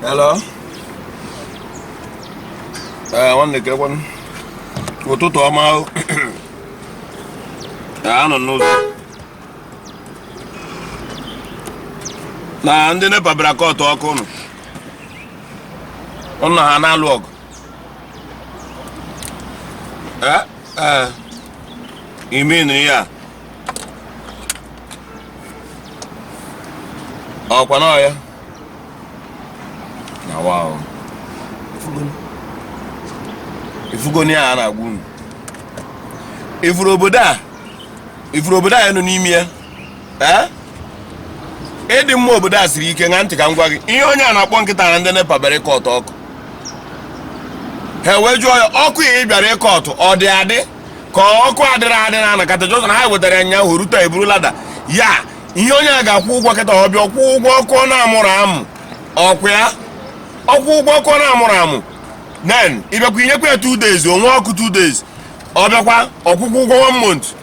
Hello. Ee, eh, nwanne kekwanụ. Ụtụtụ ọma o. Ee, eh, anụ m n'ụzọ na ndị NEPA bịara kọtụ ọkụ ụnụ. Ụnụ ha na-alụ ọgụ. Eh, eh. Ị mean ya? Ọkwa na ọ ya? Na wa o. Ifugonụ ihe a na-agwa unu. Ifuru obodo a, ifuru obodo anyị nọ n'ime ya. ee ịdị mma obodo a siri ike ṅaa ntị ka m gwa gị ihe onye a na-akọ kịta na ndị nepa bịara ịkọtụ ọkụ ha wee jụọ ya ọkụ a ị bịara ịkọtụ ọ dị adị ka ọkụ adịrọ adị na anakata jọzọ na ha wetara ya nyaahụ rute eburu lada ya ihe onye a ga-akwụ ụgwọ kịta ọ bịa kwụọ ụgwọ ọkụ ọ na-amụrụ amụ ọkwa ya ọ kwụọ ụgwọ ọkụ ọ na-amụrụ amụ den ị bịakwa i nyekwa ya 2 days onwe ọkụ 2 days ọ bịakwa ọ kwụkwa ụgwọ 1 month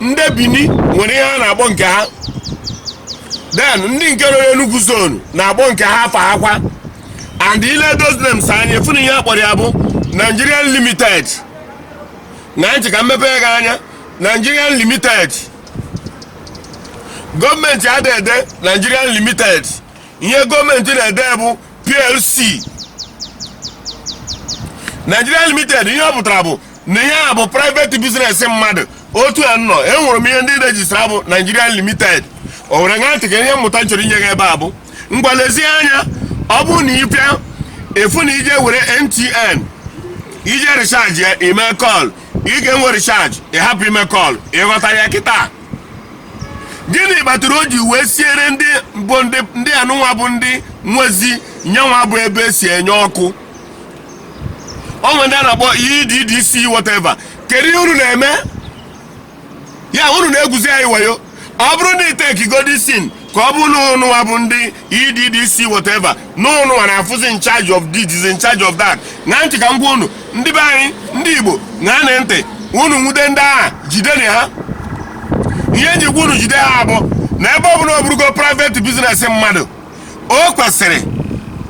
ndị bini nwere ihe ha na-akpọ nke ha den ndị nke nọ n'enugwu zonu na-akpọ nke ha afa hakwa and ile those names anyị fụ na ihe a kpọrọ ya bụ nigerian limited ṅaa ntị ka m mepe gị anya nigerian limited gọọmenti ada ede nigerian limited ihe gọọmenti na-ede bụ plc nigerian limited ihe ọ pụtara bụ na ihe a bụ private business mmadụ otu a nọ enwere m ihe ndị rejistra bụ Nigerian Limited o were ṅaa ntị ka ihe mmụta m chọrọ inye gị ebe a bụ ngwa lezie anya ọ bụrụ na ị bịa ị fụ na i je were MTN i je recharge ya ime kọl ị ga-enwe recharge ị hapụ ime kọl ị ghọta ya kịta gịnị kpatara o ji wee siere ndị bụ ndị ndị anụnwa bụ ndị nwezi nyanwa bụ ebe e si enye ọkụ o nwe ndị a na-akpọ EEDC whatever kedu ihe unu na-eme ya unu na-egwuzi anyị wayo ọ bụrụ na iteki godisin ka ọ bụ na ụnụwa bụ ndị EEDC whatever na ụnụwa na-abụzi in charge of this is in charge of that ṅaa ntị ka m gwa unu ndị be anyị ndị Igbo ṅaanụ ntị unu nwude ndị a jideni ha ihe m ji gwa unu jide ha bụ na ebe ọ bụla ọ bụrụgo private business mmadụ o kwesịrị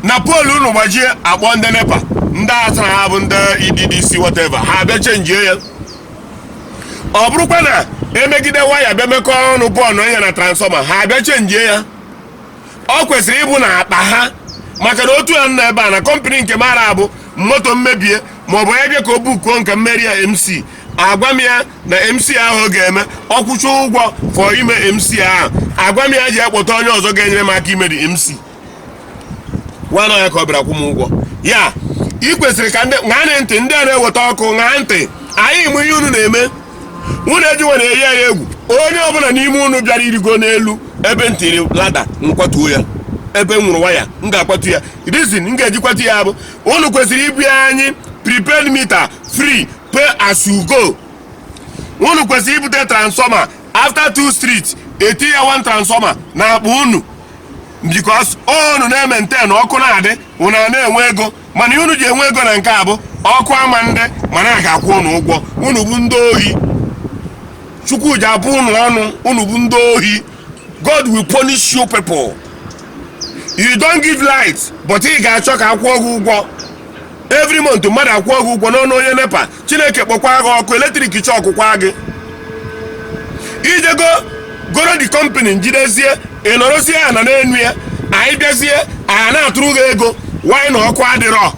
na poolu unu gbajie a kpọọ ndị nepa ndị a sị na ha bụ ndị EDDC whatever ha abịa chenjie ya ọ bụrụkwa na e megide waya bịa mekọọ ọnụ burn ihe na transfọma ha abịa chenjie ya ọ kwesịrị ịbụ na akpa ha maka na otu ya nọ ebe a na kọmpanị nke mara abụ moto m mebie maọbụ onye bịa ka o bukuo nke mmeri ya mc agwa m ya na mc ahụ ọ ga-eme ọ kwụcha ụgwọ fọ ime mc ahụ agwa m ya ji akpọta onye ọzọ ga-enyere m aka ime dị mc nwana ya ka ọ bịara kwụ m ụgwọ ya ị kwesịrị ka ndị ṅaa ntị ndị a na-eweta ọkụ ṅaa ntị anyị ma ihe unu na-eme unu ji were eyi anyị egwu onye ọbụla n'ime unu bịara irigo n'elu ebe m tiri lada m kwatuo ya ebe m nwụrụ waya m ga-akwatu ya rizin m ga-eji kwatu ya bụ unu kwesịrị ibunye anyị prepaid mita free pay as you go unu kwesịrị ibute transfọma after two street e tinye one transfọma na akpa unu bikos unu na-ementen ọkụ na-adị unu a na-enwe ego mana unu ji enwe ego na nke a bụ ọkụ ama adị mana a ga-akwụ unu ụgwọ unu bụ ndị ohi chukwu ji abụ unu ọnụ unu bụ ndị ohi god will punish you people you don't give light but ị ga-achọ ka a kwụọ gị ụgwọ every month mmadụ akwụọ gị ụgwọ n'ọnụ onye nepa chineke kpọkwaa gị ọkụ eletrik shọkụkwa gị i ji ego goro the kọmpani njidezie ị nọrọzie ya na n'enu ya anyị bịazie anyị na-atụrụ gị ego wanyị na ọkụ adịrọ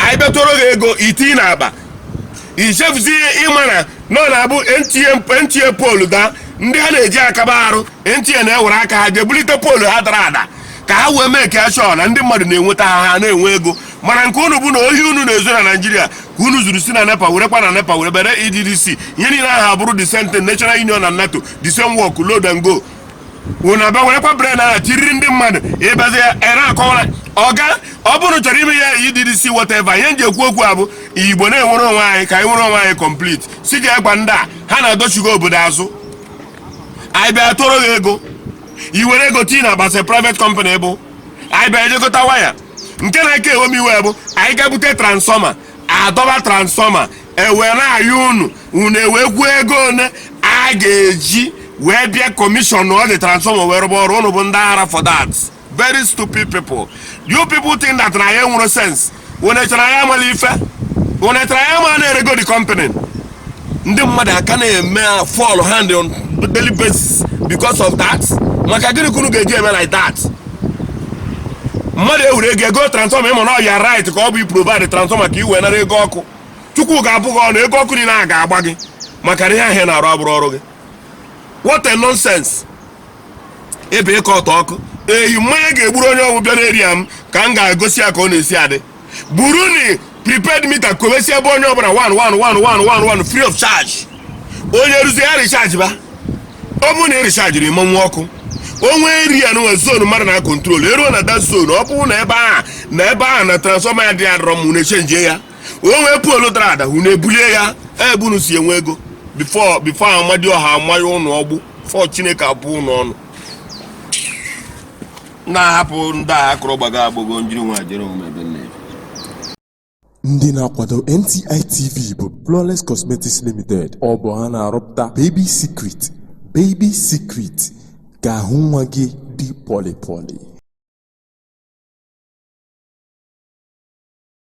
anyị bịa tụọrọ gị ego i tii na akpa i chefuzie ị ma na nọ na-abụ nta nta poolu daa ndị ha na-eji aka ha arụ nta na-ewere aka ha je bulite poolu ha dara ada ka ha wee make sure na ndị mmadụ na-enweta ha ha na-enwe ego mana nke unu bụ na ohi unu na-ezu na naijiria ka unu zuru si na nepa werekwa na nepa were bere edc ihe niile ahụ abụrụ the same thing national union na nato the same work load and go unu abịa werekwa prepaid ahụ e tiiri ndị mmadụ bịazie ya ere akọwara ọga ọ bụrụ chọrọ ime ya edc whatever ihe m ji ekwu okwu a bụ igbo na-enwere onwe anyị ka anyị nwere onwe anyị complete si ga-agwa ndị a ha na-adọchigha obodo azụ anyị bịa tụọrọ gị ego i were ego tii na akpa sị private company bụ anyị bịa ejekọta waya nke na-aka ewe m iwe bụ anyị ga-ebute transfọma a dọba transfọma e wee na-ayọ unu unu ewee kwuo ego one a ga-eji wee bịa kọmishọnọ the transfọma wee rụba ọrụ unu bụ ndị ara for that very stupid people you people think that na anyị enwero sense unu chere anyị ama ife unu chere anyị ama na e rego the company ndị mmadụ aka na-eme fall hand on daily basis because of that maka gịnị ka unu ga-eji eme like that mmadụ ewere ego goo transfọma ị ma na ọ your right ka ọ bụ iprovide transfọma ka i wee nara ego ọkụ chukwu ga-abụ gị ọnụ ego ọkụ niile a ga-agba gị maka na ihe ahụ ị na-arụ abụrọ ọrụ gị what a nonsense ebe ịkọ ọtọ ọkụ eyi mmanya ga-egburu onye ọbụ bịara area m ka m ga-egosi ya ka ọ na-esi adị burunụ prepaid meter kowesie ebe onye ọbụla free of charge onye ruzi ya recharge ba ọ bụrụ na ị richajighị ị ma nwe ọkụ o nwee area nwee zone mmadụ na-control e ruo na that zone ọ bụrụ na ebe a na ebe a na transformer ya dị adọrọ m na-echenjie ya o nwee pole dara ada unu ebulie ya ebe unu si enwe ego before before amadịọha amanye ụnụ ọkụ before chineke abụọ ụnụ ọnụ na-ahapụ ndị a akụrụ gbago agbago njiri nwa jere omume ebe nne ndị na-akwado nti tv bụ flawless cosmetics limited ọ bụ ha na-arụpụta baby secret baby secret ka ahụ nwa gị dị pọlịpọlị